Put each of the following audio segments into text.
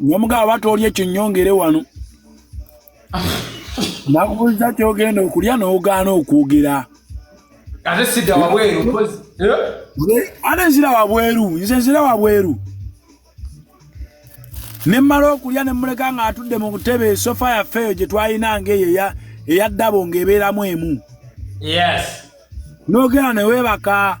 nomugaa aba tooli ekyo nyongere wano nakubuuza kyogenda okulya nogaana okwogera ate sida wabweru eh? ate nzira wabweru nze nzira wabweru nemmala okulya nemuleka nga atudde mu butebe esofa yaffe eyo gye twalina ngaeyo eyaddabo ngaebeeramu emu nogera newebaka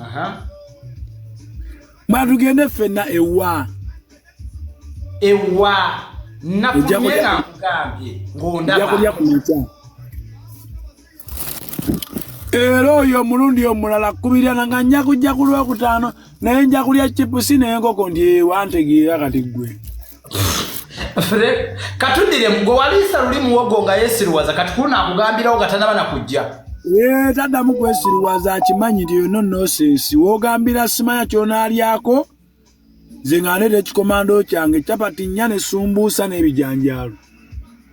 Aha. Batugende fenna ewa. Ewa. Nakumye na mugambye. Ngondaba. Yakulya ku mutya. era oyo omulundi omulala kubirana nga nja kujja ku lwokutaano naye nja kulya chipusi nenkoko nti ewantegeera kati ggwe fre katudire gwe waliisa luli muwogo nga yesiruwaza kati kuluna akugambirawo nga tanaba nakujja eh, taddamu kwesiruwaza akimanyi nti yono nosensi wogambira simanya kyonalyako nze nga ndeeta ekikomando kyange capati nnya nesumbuusa n'ebijanjaalo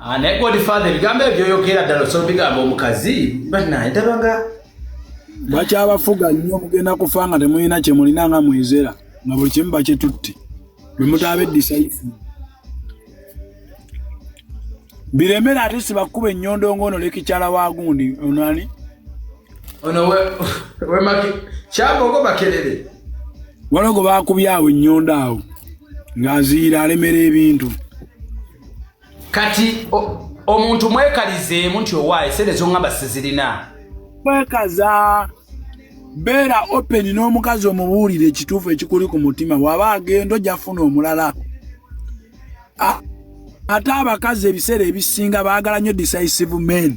Ah, naye godfather ebigambo ebyo byoyogera ddala osobola bigambo omukazi banaye ndabanga bakyabafuga nnyo mugenda kufa nga temulina kyemulina nga mwezera nga buli kimu bakyetutte bwemutaba edisaifu biremera ate sibakuba enyondo ngono lekikyala wagundi onani ono wemaki kyabogo bakerere walogo bakubye awo ennyondo awo ng'aziira alemera ebintu kati omuntu mwekalizeemu nti owaaye sente zongamba sizirina mwekaza beera open n'omukazi omubuulire ekituufu ekikuli ku mutima waba agenda ojja funa omulala ate abakazi ebiseera ebisinga baagala nnyo decisive men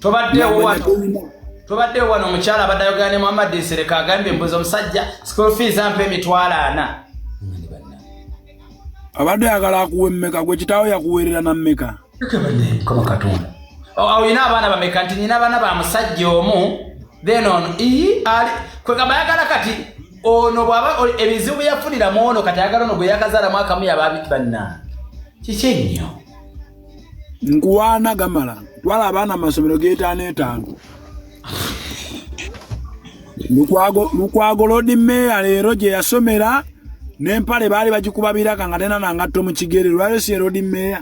tobaddeewo wano tobaddeewo wano omukyala abadde ayogera ne muhammad nsereka agambye mbuza omusajja school fees ampa emitwalo ana abadde ayagala akuwa emmeka gwe kitaawo yakuweerera na mmeka kama katonda olina abaana bameka nti nina abaana ba musajja omu then ono ii ali kwegamba ayagala kati ono bwaba ebizibu byeyafuniramu ono kati ayagala ono gweyakazalamu akamu yaba abiti bannange kiki ennyo nkuwaana gamala twala abaana mu masomero g'etaano etaano lukwago lodi meeya leero gye yasomera n'empale baali bagikuba biraka nga tena nangatto mu kigere lwalyo si erodi meeya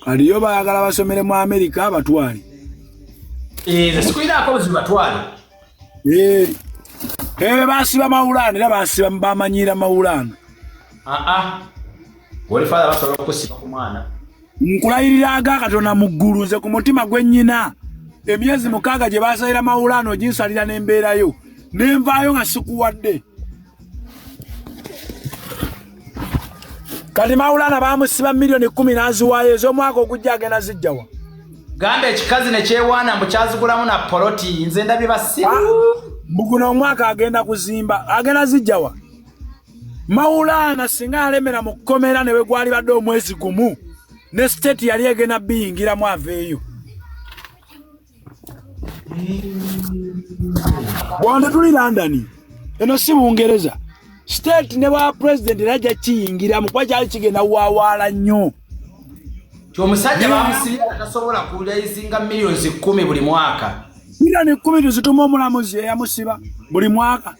kati yo baagala basomere mu amerika abatwale eh, sikulinaako buzibu batwale Eee. Eee basiba maulana era basiba mbamanyira maulana. Ah ah. Wali father basobola okusiba ku mwana. Nkulayirira aga katona mu ggulu nze ku mutima gwe nyina. Emyezi mukaaga gye basalira maulana oginsalira n'embeera yo. Nenvaayo nga sikuwadde. kati mawulana bamusiba miliyoni kumi naziwaayo ez'omwaka ogujja agenda zijjawa gamba ekikazi nekyewaana mbu kyazigulamu na poloti nze ndabye basibu ah, mbuguno omwaka agenda kuzimba agenda zijjawa mawulaana singa yalemera mu kkomera ne bwe gwalibadde omwezi gumu ne siteeti yali egenda biyingiramu aveeyo bwante tuli london eno si bungereza state ne bwa president era ajja kiyingira mukuba kyali kigenda wawaala nnyo omusajja bamusibi atasobola kulaizinga millions kumi buli mwaka million kumi tuzituma omulamuzi eyamusiba buli mwaka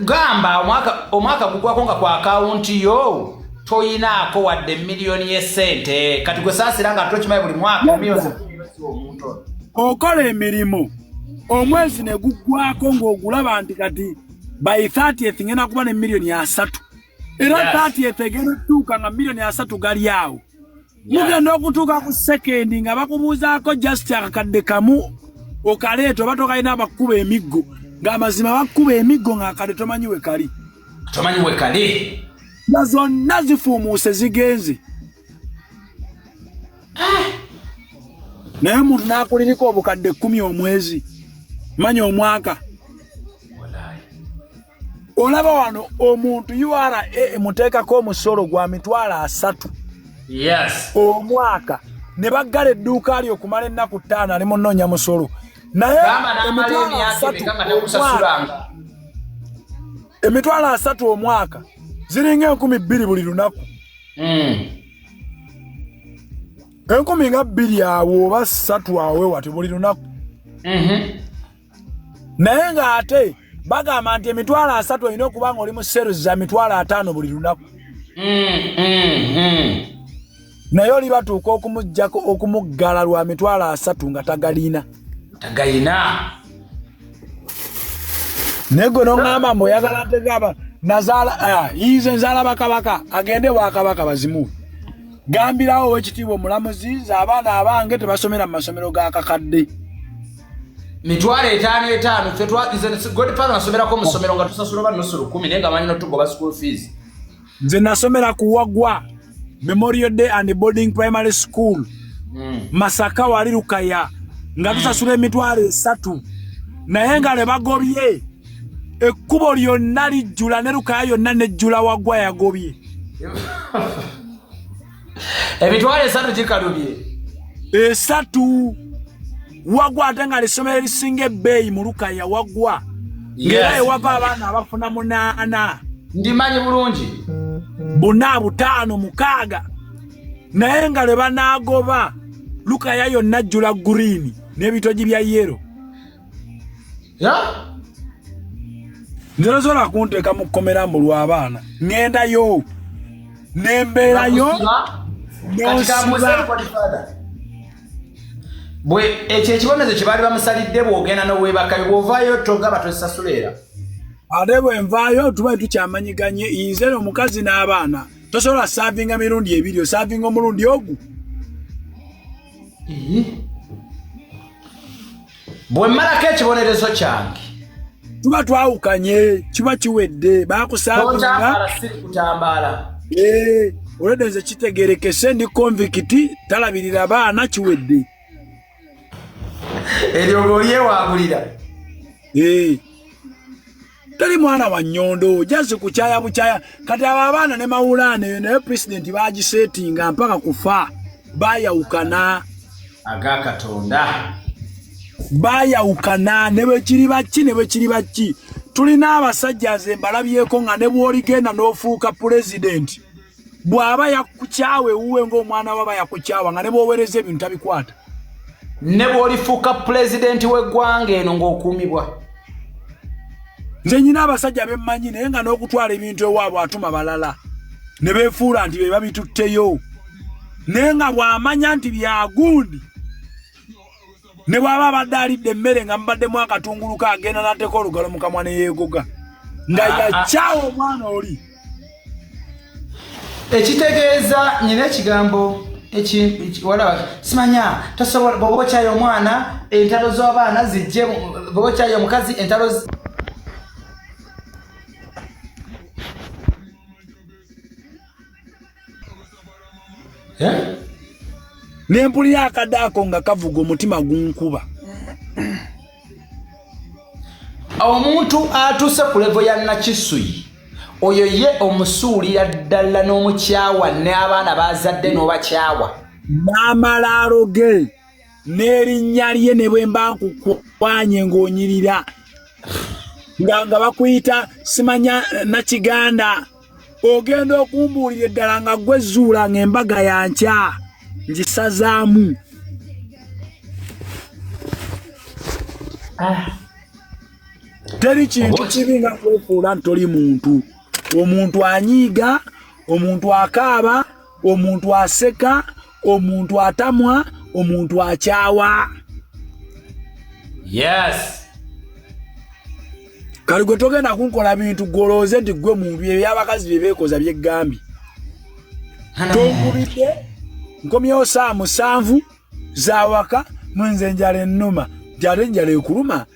gamba omwaka gugwako nga ku akawunti yo toyinaako wadde miliyoni yesente kati gwe saasira nga tokimaye buli mwaka okola emirimu omwezi ne guggwako ng'ogulaba nti kati by 30th ngenda kuba ne miliyoni asatu era 30th egenda okutuuka nga miliyoni asatu gali awo mugenda okutuuka ku sekendi nga bakubuuzaako just akakadde kamu okaleeta oba tokalina abakkuba emiggo ng'amazima bakkuba emiggo ng'akade tomanyi we kali tomanyi we kali nga zonna zifuumuuse zigenze ah! naye omuntu n'akuliriko obukadde kkumi omwezi manya omwaka olaba wano omuntu ura emuteekako omusolo gwa mitwalo asatu omwaka ne baggala edduuka lyo okumala ennaku ttaano ali munoonya musolo naye emitwalo asatu omwaka ziringa enkumi bbiri buli lunaku hmm. enkumi nga bbiri awo oba satu awe wati buli lunaku mhm. naye ng'ate bagamba nti emitwalo asatu olina okuba nga oli mu series za mitwalo ataano buli lunaku mm, mm, mm. naye oli batuuka okumugjako okumuggala lwa mitwalo asatu nga tagalina tagalina naye gwe noŋamba mbu oyagala ntegaba nazaala ah, yize nzaala bakabaka agende wakabaka bazimuwe gambirawo owekitiibwa omulamuzi ze abaana abange tebasomera mu masomero ga kakadde mitwalo etaano etaano fe twagizegodfather nasomerako mu ssomero nga tusasula oba nusu lukumi naye nga manyi notugoba school fees nze nasomera ku wagwa memorial day and boarding primary school mm. masaka wali lukaya nga hmm. tusasula mm. emitwalo esatu naye nga le bagobye ekkubo lyonna lijjula ne lukaya yonna nejjula wagwa yagobye emitwalo esatu gikalubye esatu wagwa ate nga lesomero erisinga ebbeeyi mulukaya wagwa ngera ewava abaana abafuna munaana ndimanyi bulungi buna butaano mukaaga naye nga lwe banaagoba lukaya yonna jjula guriini n'ebitogi bya yero ya nze nasobola kunteeka mu kkomera mbu lw'abaana ŋŋendayo nembeerayo bwe ekyo ekibonerezo kye baali bamusalidde bw'ogenda n'obwebakayo bw'ovaayo togaba tosasula era ate bwe nvaayo tuba tukyamanyiganye inze no omukazi n'abaana tosobola saavinga mirundi ebiri osaavinga omulundi ogu bwe mmalako ekibonerezo kyange tuba twawukanye kiba kiwedde bakusakutambaala eh, olwedde nze kitegerekese ndi konvikiti talabirira baana kiwedde eryo ngaolyewangulira eh. teri mwana wa nyondo jazi kuchaya buchaya kati abo abaana ne mawulaana eyo naye pulezidenti bagisetinga mpaka kufa bayawukana aga katonda bayawukana ne bwe kiri baki ne bwe kiri baki tulina abasajja nze mbalabyeko nga ne bw'oligenda n'ofuuka pulezidenti bw'aba yakukyawa ewuwe ng'omwana waba yakukyawa nga ne bwowereza ebintu tabikwata ne bw'olifuuka pulezidenti w'eggwanga eno ng'okuumibwa nze nyina abasajja bemmanyi naye nga n'okutwala ebintu ewaabwe atuma balala ne beefuula nti be babitutteyo naye nga bw'amanya nti byagundi ne bwaba abadde alidde emmere nga mubaddemu akatungulu ka agenda n'ateeka olugalo mu kamwa ne yeegoga nga ah, ah. yakyawa omwana oli ekitegeeza nyina ekigambo ekiwalaba simanya tosobola bwoba okyayo omwana entalo z'abaana zijje bwoba okyayo omukazi entalo eh? ne mpulira akade ako nga kavuga omutima gunkuba omuntu atuuse ku levo ya nakisuyi oyo ye omusuulira ddala n'omukyawa n'abaana bazadde n'obakyawa n'amalaalo ge n'erinnya lye ne bwe mba nkukwanye ng'onyirira nga nga bakuyita simanya nakiganda ogenda okumbuulira eddala nga gwe zuula ng'embaga ya nkya ngisazaamu ah. teri kintu kibi nga kwefuula nti toli muntu omuntu anyiiga omuntu akaaba omuntu aseka omuntu atamwa omuntu akyawa yes kali gwe togenda kunkola bintu gwolowooze nti gwe muntu ebyabakazi bye beekoza byeggambye tonkubidde nkomyewo saa musanvu zawaka mwenze enjala ennuma jate enjala ekuluma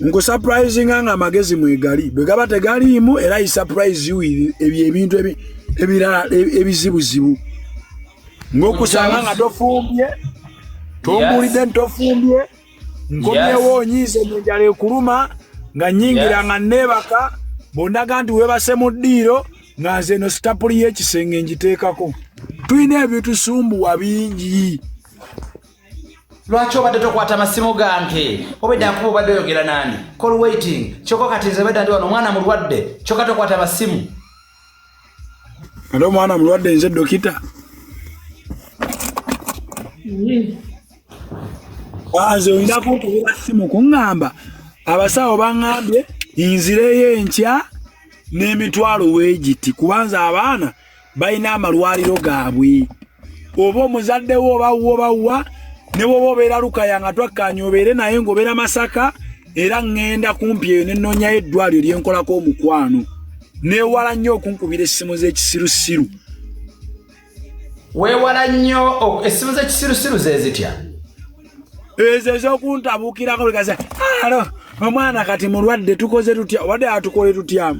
nkusaprayizinga nga amagezi mwegali bwe gaba tegaliimu era isaprayizi ebyo ebintu ebirala ebizibuzibu ngaokusanga nga tofumbye tombulidde ntofumbye nkomyewo onyiize nenjala ekuluma nga nyingira nga neebaka bondaga nti webase mu ddiiro nga nze eno sitapuli y'ekisenge ngiteekako tulina ebitusumbuwa bingi lwaki obadde tokwata masimu gange obedda nkuba obadde oyogera nani call waiting kyoka kati nze bedda ndi wano omwana mulwadde kyoka tokwata masimu ate omwana mulwadde nze dokita ah, nze oyinako okubira simu kuŋŋamba abasawo baŋŋambye nzireyo enkya n'emitwalo weegiti kubanza abaana balina amalwaliro gaabwe oba omuzadde wo oba wo oba wa ne woba obeera lukaya nga twakkaanya obeere naye ng'obeera masaka era ŋŋenda kumpi eyo ne nnoonyayo eddwaliro lye nkolako omukwano neewala nnyo okunkubira essimu z'ekisirusiru weewala nnyo essimu z'ekisirusiru ze zitya ezo ezokuntabukirako bikaze alo omwana kati mulwadde tukoze tutya obadde atukole tutya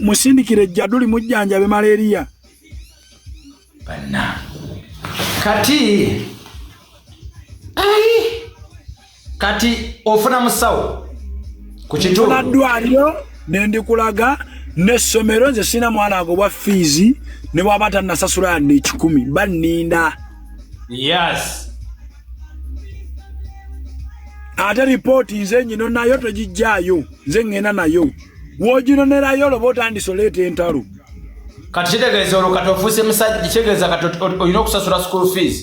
musindikire jjaduli mujjanjabe malaria banna kati ai kati ofuna musawo ku kituunaddwaliro nendikulaga n'essomero nze sirina mwana ago bwa fiizi ne bwaba tannasasula yadde ekikumi banninda yes ate ripooti nze nyino nayo togijjaayo nze ŋŋenda nayo woginonerayo oloba otandisa oleeta entalo kati kitegeeza olwo kati ofuuse musajja kitegeeza kati olina okusasula school fees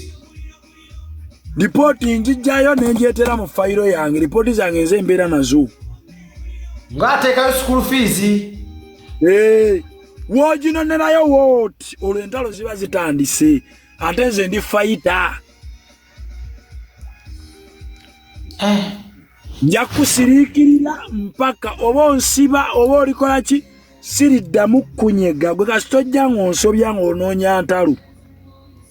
ripooti njijjayo nenjeetera mu fayiro yange ripooti zange nze embeera nazo ng'ateekayo school fees ee woginonerayo wooti olwo entalo ziba zitandise ate nze ndi fayita eh. nja kusiriikirira mpaka oba onsiba oba olikola ki siriddamu kunyega gwe kasita ojja ng'onsobya ng'onoonya ntalu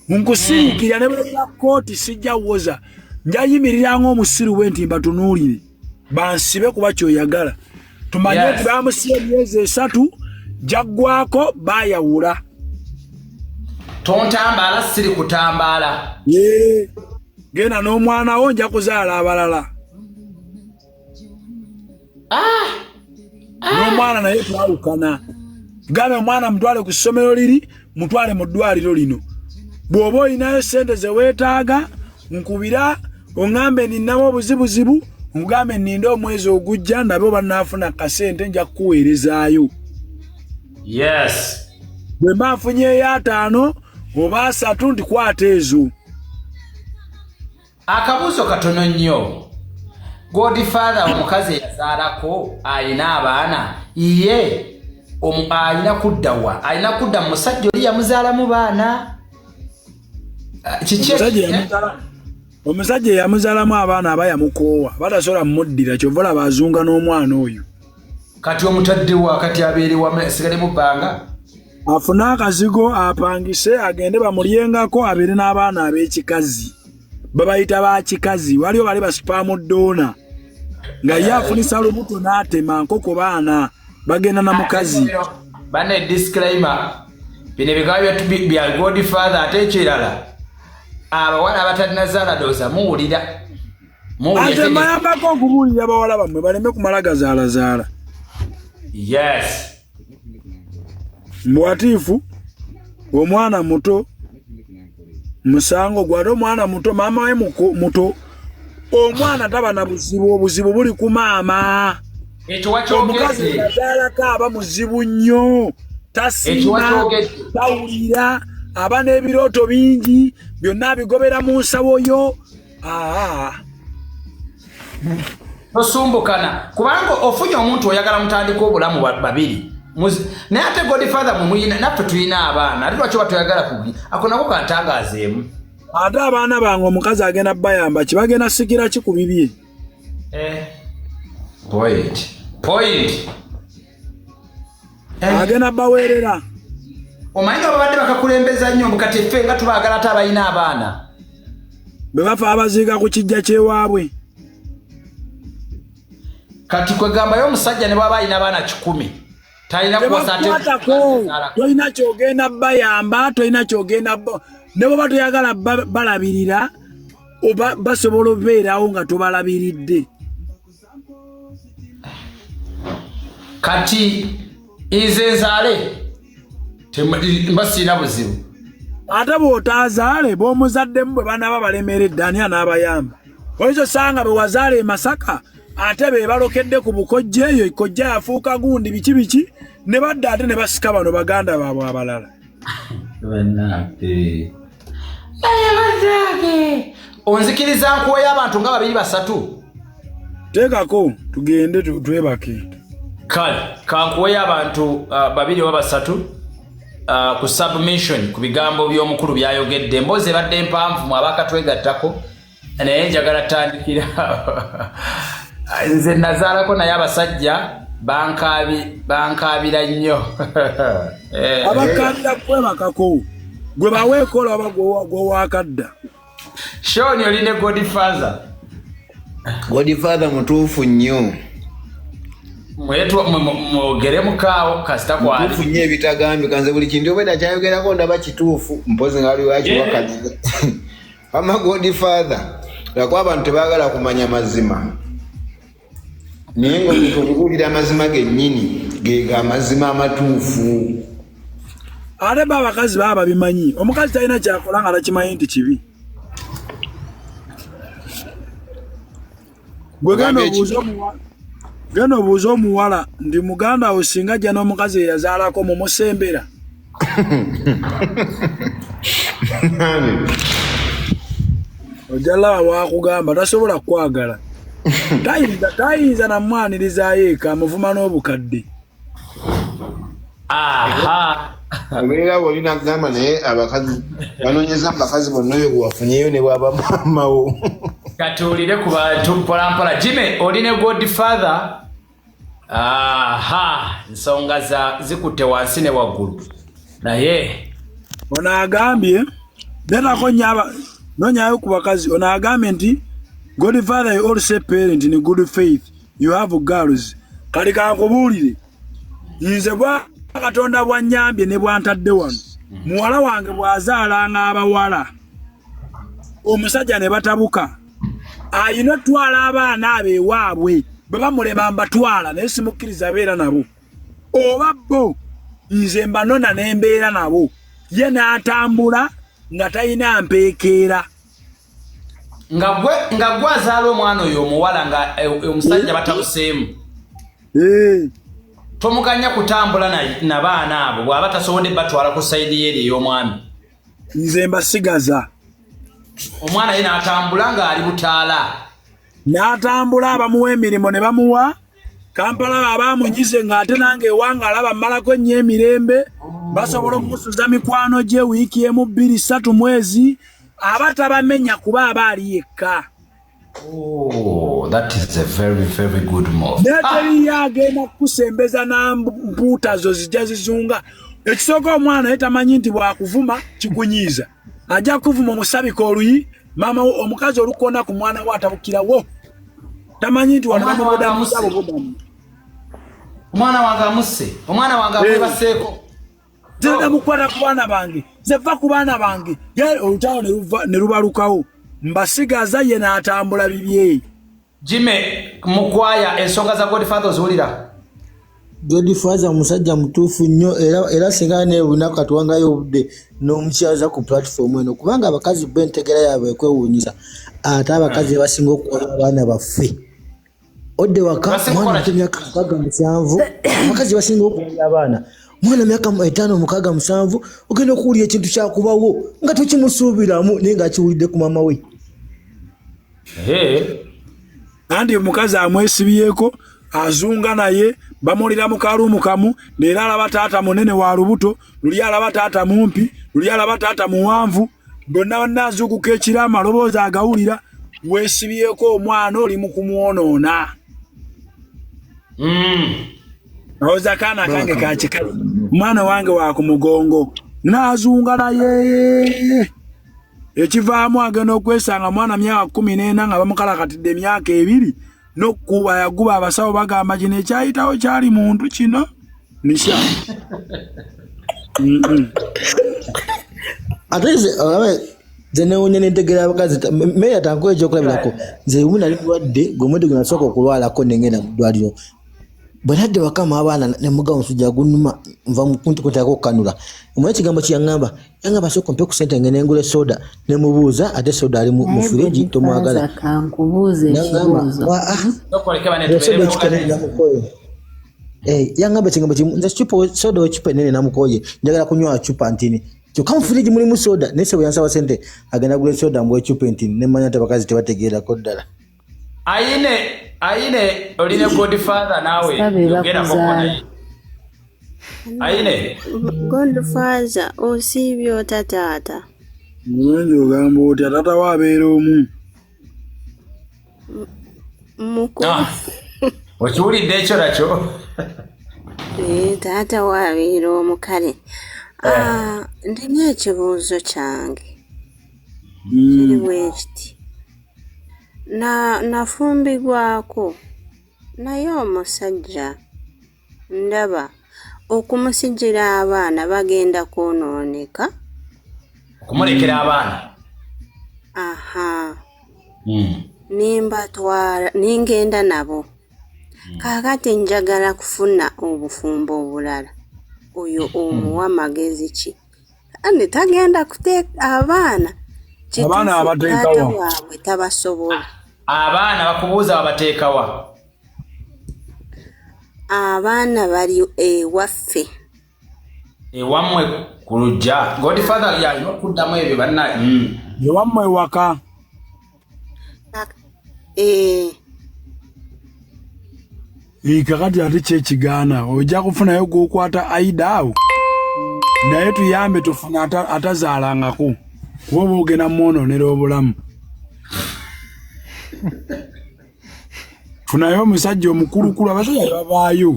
nkusiriikirira ne bwea kooti sijja woza njayimirira ng'omusiru bwe nti mbatunuulire bansibe kuba kyoyagala tumanye nti yes. bamusiba emyezi esatu jaggwako bayawula tontambaala siri kutambaala yeah. genda n'omwana wo nja kuzaala abalala ah! ah! n'omwana naye twawukana gambe omwana mutwale ku ssomero liri mutwale mu ddwaliro lino bw'oba olinayo ssente ze weetaaga nkubira oŋambe ninnamu obuzibuzibu nkugambe ninde omwezi ogujja nabe oba naafuna kasente nja kukuweerezaayo yes bwe mba nfunyeyo ataano oba asatu ndikwata ezo akabuuzo katono nnyo godfather omukazi eyazaalako alina abaana ye alina kudda wa alina kudda mu musajja oli yamuzaalamu baana ah, kiki omusajja eyamuzalamu abaana aba yamukoowa batasobola mumuddira kyova olaba azunga n'omwana oyo kati omutaddewa kati abeerewa sigalemu bbanga afune akazigo apangise agende bamulyengako abeere n'abaana ab'ekikazi babayita ba kikazi waliwo bali basipaamu doona nga ye afunisa lubuto n'atema nkoko baana bagenda na mukazi bana edisclaimer bino ebikaba bya god father ate ekirala abawala abatalina zaala dooza muwulira ate mbayambako okubuulira bawala bammwe baleme kumala gazaalazaala yes muwatiifu omwana muto musango gwe ate omwana muto maama we muto omwana taba na buzibu obuzibu buli ku maama omukazi azaalako aba muzibu nnyo tasiima tawulira aba n'ebirooto bingi byonna abigobera mu nsawo yo ah. tosumbukana kubanga ofunye omuntu oyagala mutandika obulamu babiri naye ate godfather mwemuyina naffe tulina abaana ate lwaki oba toyagala kubi ako nako kantangaazeemu ate abaana bange omukazi agenda bayamba kibagenda sikira ki ku bibye eh. point point eh. agenda baweerera omanyi nga babadde bakakulembeza nnyo mukati ffe nga tubaagala ate abalina abaana bwe bafa abaziika ku kijja kyewaabwe kati kwegambayo omusajja ne bwaba alina abaana kikumi tolina kyogenda bayamba tolina kyogenda ne bweba toyagala balabirira basobola obeerawo nga tobalabiridde kati nze nzaale mba sirina buzibu ate bw'otaazaale b'omuzaddemu bwe banaaba balemeredde ani anaabayamba oyinza osanga bwe wazaala e masaka ate be balokedde ku bukojja eyo kojja yafuuka gundi biki biki ne badda ate ne basika bano baganda baabwe abalala onzikiriza nkuweyo abantu nga babiri basatu teekako tugende twebake kale kankuweyo abantu uh, babiri oba basatu uh, ku submission ku bigambo by'omukulu byayogedde emboozi ebadde mpanvu mu abakatwegattako naye njagala tandikira nze nazaalako naye abasajja bankaabira nnyo eh. abakaabira kwebakako gwe baweekola oba gwewakadda shon oli ne godfather godfather mutuufu nnyo mwogere mukaawo kasita kwalimutuufu nnyo ebitagambika nze buli kintu obweda kyayogerako ndaba kituufu mpozi nga waliwo akiwakana eh. ama god father lwakuba abantu tebagala kumanya mazima naye nga omuntu okubuulira amazima gennyini gega amazima amatuufu ate ba abakazi baba babimanyi omukazi talina kyakola nga takimanyi nti kibi gwe genda obuuza omuwala genda obuuza omuwala ndi muganda wo singa ajja n'omukazi eyazaalako mumusembera ojja laba wakugamba tasobola kukwagala tayinza tayinza namwanirizayo eka muvuma n'obukadde obeera woli nagamba naye abakazi banonyeza mubakazi bonna oyo gwewafunyeyo ne bwaba mamawo katuwulire ku bantu mpolampola jime oli ne god father aha nsonga zikutte wansi ne waggulu naye ono agambye betako nyaba nonyayo ku bakazi ono agambye nti god father you all say parent in good faith you have girls kati kankubuulire nze bwa katonda bwanyambye ne bwantadde wano muwala wange bwazaalanga abawala omusajja ne batabuka ayina otwala abaana abo ewaabwe bwe bamulema mbatwala naye simukkiriza abeera nabo oba bo nze mbanona ne mbeera nabo ye n'atambula nga talina mpeekeera nga gwe nga gwe azaala omwana oyo omuwala nga eh, eh, omusajja eh. batabuseemu tomuganya kutambula na baana abo bwaba tasobodde batwala ku sayidi yeeri ey'omwami nze mbasigaza omwana ye natambula ng'ali butaala n'atambula abamuwa emirimu ne bamuwa kampala babaamunyize ng'ate nange ewanga alaba mmalako ennyo emirembe basobola okumusuza mikwano gye wiiki emu bbiri ssatu mwezi aba tabamenya kuba aba ali yekka Oh, that is a very very good move. Nataliyo ah. agenda kukusembeza na mpuuta zo zijja zizunga. Ekisooka omwana ye tamanyi nti bwakuvuma kikunyiiza. ajja kuvuma omusabika oluyi maama wo omukazi olukona ku mwana wo atabukirawo tamanyi nti wanamubudamusabubudamu omwana wange amusse omwana wange amwebaseeko eh. genda mukwata ku baana bange zeva ku baana bange olutalo ne lubalukawo mbasigaza ye n'atambula bibyeyi Jimmy Mukwaya ensonga za Godfather oziwulira? Godfather musajja mutuufu nnyo era era singa ne lunaku atuwangayo obudde n'omukyaza ku platform eno kubanga abakazi bo entegera yaabwe ekwewuunyisa ate abakazi basinga okukola abaana baffe odde waka mwana muto myaka mukaaga musanvu abakazi basinga okuwulira abaana mwana myaka etaano mukaaga musanvu ogenda okuwulira ekintu kyakubawo nga tokimusuubiramu naye ng'akiwulidde ku maama we andi omukazi amwesibyeko azunga naye bamulira mu kaluumu kamu neera alaba taata munene wa lubuto luli alaba taata mumpi luli alaba taata muwanvu bonna banna azuukuka ekiro amaloboozi agawulira wesibyeko omwana oli mu kumwonoona hmm. awoza kaana kange kakikazi omwana wange wa ku mugongo naazunga naye ekivaamu agenda okwesanga mwana myaka kumi n'ena nga bamukalakatidde emyaka ebiri nokukuba yaguba abasawo bagamba kino ekyayitawo kyali muntu kino nisha ate zenewunya nentegera abakazi meya tankuwa ekyokulabirako nze umu nali mulwadde gwemwedde gwenasooka okulwalako nengenda mu ddwaliro bwenadde wakama abaana nemuga omusujja gunuma nva mukuntikutako okukanula omwa ekigambo kyeyaŋamba Anga basoko mpe kusente ngene ngule soda ne mubuza ate soda ali mu fridge to mwagala. Kankubuze kibuzo. Wa ah. Nokoleke bane tubere mukole. Eh, yanga mbe chingambo chimu nze chupo soda ochipe nene na mukoye. Njagala kunywa chupa ntini. Kyoka mu fridge muli mu soda nese bwe yansa basente agenda gule soda mwe chupa ntini ne manya tabakazi tebategeera ko ddala. Aine aine oline good father nawe yogera ko naye. Aine good father osibyo tatata. Mwenje ogamba otya tata wabeera omu. Mukulu. Ah. Okiwulidde ekyo nakyo? Ee, eh, taata waabeera omu kale. Eh. Ah, ndina ekibuuzo kyange. Hmm. Kiri bwe kiti. Na, nafumbigwako, naye omusajja, ndaba, okumusigira abaana bagenda kwonooneka. Okumulekera mm. abaana. Aha. Mm. Nimbatwala, ningenda nabo. Mm. Kakati njagala kufuna obufumbo obulala. Oyo omuwa magezi ki? kandi tagenda kuteeka abaana abaana abateekawa waabwe tabasobola abaana bakubuuza wabateekawa abaana bali ewaffe ewamwe ku lujja godfather yalina okuddamu ebyo banna mm. ewamwe ewaka eh. kakati ate kyekigaana ojja kufunayo gwokwata aida awo naye tuyambe tufuna atazaalangako kuba oba ogenda mwononera obulamu funayo omusajja omukulukulu abasajja babaayo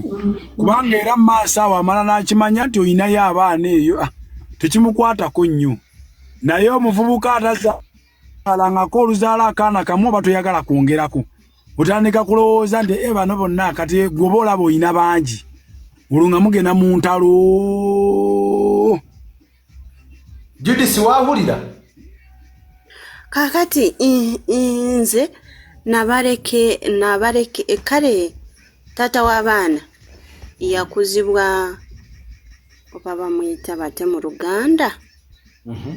kubanga era maaso awo amala n'akimanya nti olinayo abaana eyo ah, tekimukwatako nnyo naye omuvubuka ataza alangako oluzaala akaana kamu oba toyagala kwongerako otandika kulowooza nti e bano bonna kati gwoba olaba olina bangi olwo nga mugenda mu ntalo judisi wahulira kakati nze nabaleke nabaleke e, kale taata w'abaana yakuzibwa oba bamuyita bate mu luganda mhm.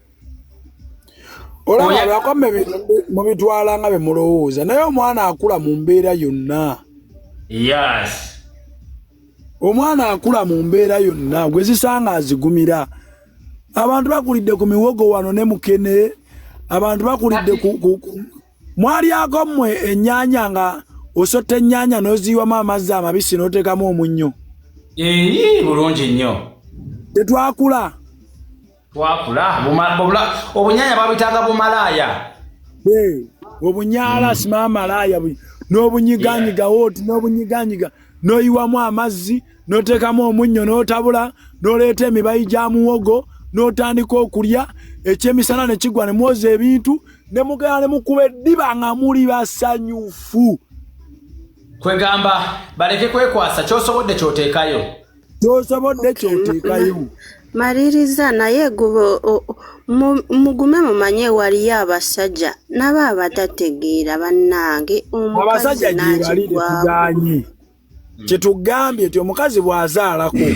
olaba lwako mubitwala nga bemulowooza naye omwana akula mu mbeera yonna yes omwana akula mu mbeera yonna gwezisanga azigumira abantu bakulidde ku miwogo wano ne mukene abantu bakulidde mwalyako mmwe ennyanya nga osotta ennyanya n'oziyiwamu amazzi amabisi n'oteekamu omunnyo eyi bulungi nnyo tetwakula twakula obunyanya babitanga bumalaaya obunyala hmm. sima malaaya n'obunyiganyiga woti n'obunyiganyiga n'oyiwamu amazzi n'oteekamu omunnyo n'otabula n'oleeta emibayi gya muwogo n'otandika okulya ekyemisana ne kigwa ne mwoza ebintu ne mugenda ne mukuba eddiba nga muli basanyufu kwegamba baleke kwekwasa kyosobodde kyoteekayo kyosobodde kyoteekayo maliriza naye gube mugume mumanye waliyo abasajja nabo abatategeera bannange omukazi nakigwaganye kyetugambye nti omukazi bw'azaalako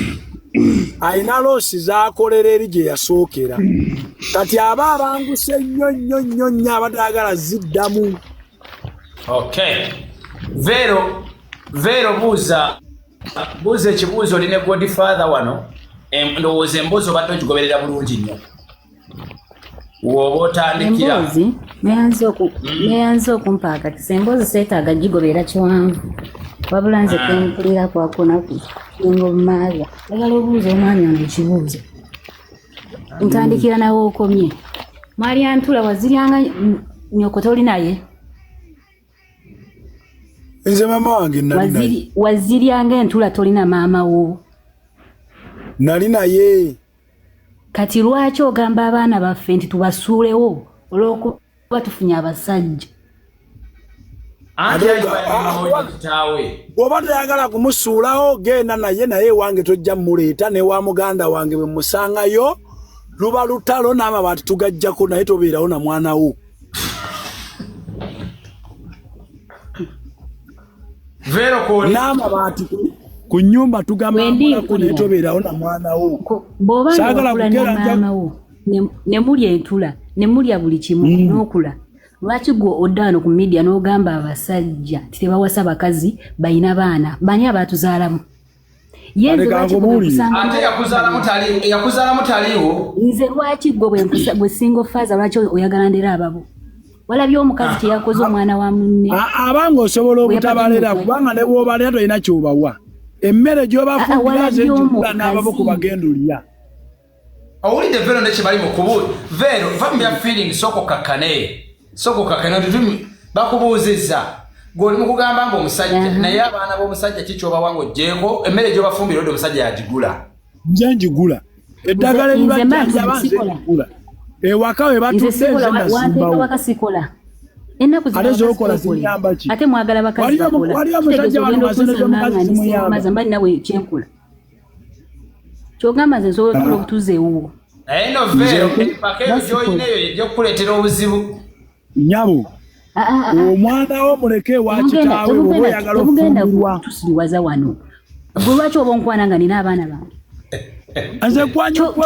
alina loosi z'akolera eri gye yasookera kati aba abanguse nnyo nnyo nnyo nnyo abadde agala ziddamu okay. Vero, Vero Buza. buuza ekibuuzo oli ne god father wano ndowooza emboozi obadde ogigoberera bulungi nnyo woba otandikira emboozi neyanze hmm. okumpaakatisa emboozi seetaaga gigoberera kiwanvu wabula nze ah. kempulira kwakunaku nga omumaaga agala obuuza omwami ono ekibuuzo ntandikira nawe okomye mwali antula waziryanga nyoko toli naye nze maama wange waziryanga entula tolina maama wo nali naye kati lwaki ogamba abaana baffe nti tubasuulewo olwokuba tufunye abasajja bwoba toyagala kumusuulawo genda naye naye ewange tojja muleeta newa muganda wange bwe musangayo luba lutalo n'amabaati tugajjako naye tobeerawo na mwana wo Vero ko nama bati ku nyumba tugamba mwana ko ne tobera ona mwana wo. Boba sagala kugera mwana wo. Ne muli entula, ne muli abuli kimu mm. nokula. Lwaki gwo odano ku media no gamba abasajja titebawasa bakazi bayina bana. Bani abatuzalamu. yenze lwaki yakuzalamu taliwo nze lwaki gwe gwe single faza lwaki oyagala ndera ababo walabye omukazi kyeyakoze omwana wa munne abanga osobola obutabalera kubanga ne bwobalera tolina kyobawa emmere gyobafumbiraze nababo kubagenda olya owulidde vero ne kyebali mukubu vero va mu bya feeling soko kakane soko kakane tutumi bakubuuzizza gwoli mukugamba mbu omusajja mhm. naye abaana b'omusajja ki kyobawa nga ojjeeko emmere gyobafumbira odi omusajja yagigula nja ngigula eddagala ebibajanjabanzegula ewaka we batudde nze nasimbawo ennaku ate mwagala bakazi bakola kitegeeza ogenda okusasula nga nze simumaza mba ninawe kyenkola kyogamba nze nsobola otuula obutuuza ewuwo naye no veero empaka eyo gyolina eyo ejja okukuleetera obuzibu nyabo ah, ah, ah, omwana wo muleke ewa kitaawe oba oyagala okufumbirwa tusiriwaza wano gwe lwaki oba onkwana nga nina abaana bange nze kwanyokwe